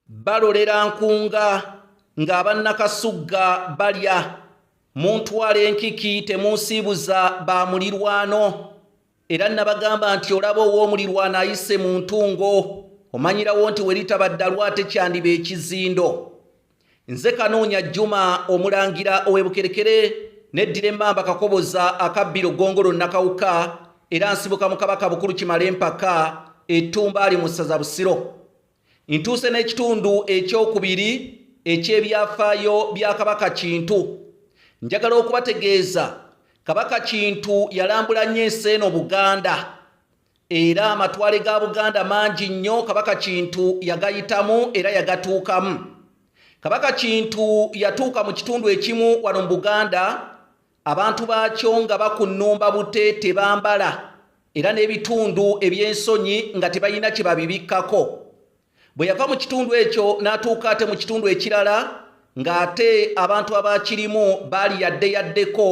balolera nkunga ng'abannakasugga balya muntwala enkiki temunsiibuza ba mulirwano era nabagamba nti olaba ow'omulirwano ayise mu ntungo omanyirawo nti we litaba ddalu ate kyandiba ekizindo nze kanoonya juma omulangira ow'ebukerekere neddira emmamba kakoboza akabbiro ggongolo nakawuka era nsibuka mu kabaka bukulu kimala empaka ettumba ali mu ssaza busiro ntuuse n'ekitundu ekyokubiri eky'ebyafaayo bya kabaka kintu njagala okubategeeza kabaka kintu yalambula nnyo ensi eno buganda Era amatwale ga Buganda mangi nnyo Kabaka Kintu yagayitamu era yagatuukamu. Kabaka Kintu yatuuka mu kitundu ekimu wano mu Buganda, abantu baakyo nga bakunnumba bute tebambala era n'ebitundu eby'ensonyi nga tebalina kye babibikkako. bwe yava mu kitundu ekyo n'atuuka ate mu kitundu ekirala ng'ate abantu abaakirimu baali yadde yaddeko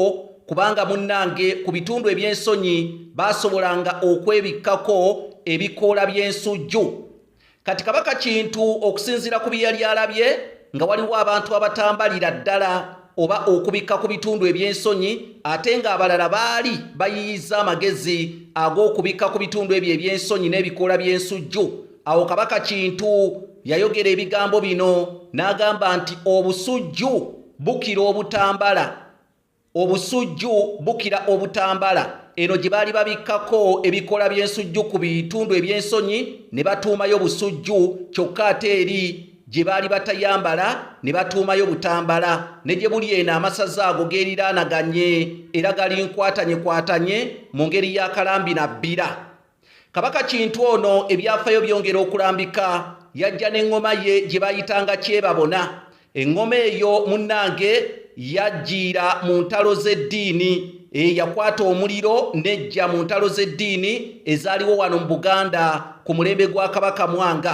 kubanga munnange ku bitundu eby'ensonyi baasobolanga okwebikkako ebikoola by'ensujju kati kabaka kintu okusinziira ku bye yali alabye nga waliwo abantu abatambalira ddala oba okubikka ku bitundu eby'ensonyi ate ng'abalala baali bayiyiza amagezi ag'okubikka ku bitundu ebyo eby'ensonyi n'ebikoola by'ensujju Awo kabaka Kintu yayogera ebigambo bino n'agamba nti obusujju bukira obutambala obusujju bukira obutambala eno gye baali babikkako ebikola by'ensujju ku bitundu eby'ensonyi ne batuumayo busujju kyokka ate eri gye baali batayambala ne batuumayo butambala ne gye buli eno amasaza ago geeriraanaganye era galinkwatanye kwatanye mu ngeri y'akalambi na bbira Kabaka Kintu ono ebyafayo byongera okulambika yajja n'eŋŋoma ye gye bayitanga kyebabona eŋŋoma eyo munnange yajjiira mu ntalo z'eddiini eyakwata omuliro nejja mu ntalo z'eddiini ezaaliwo wano mu Buganda ku mulembe gwa Kabaka Mwanga.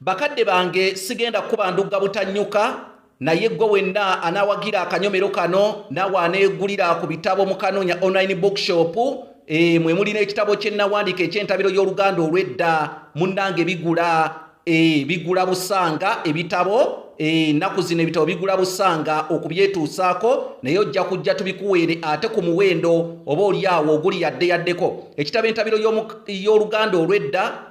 Bakadde bange sigenda kukuba ndugga butannyuka naye gwe wenna anaawagira akanyomero kano naawe aneegulira ku bitabo mu kanoonya online bookshop e, mwe muli n'ekitabo kye nnawandiika eky'entabiro y'oluganda olw'edda munnange bigula e, bigula busanga ebitabo ennaku eh, e, zino ebitabo bigula busanga okubyetuusaako naye ojja kujja tubikuweere ate ku muwendo oba olyawo oguli yadde yaddeko ekitabo entabiro y'oluganda olw'edda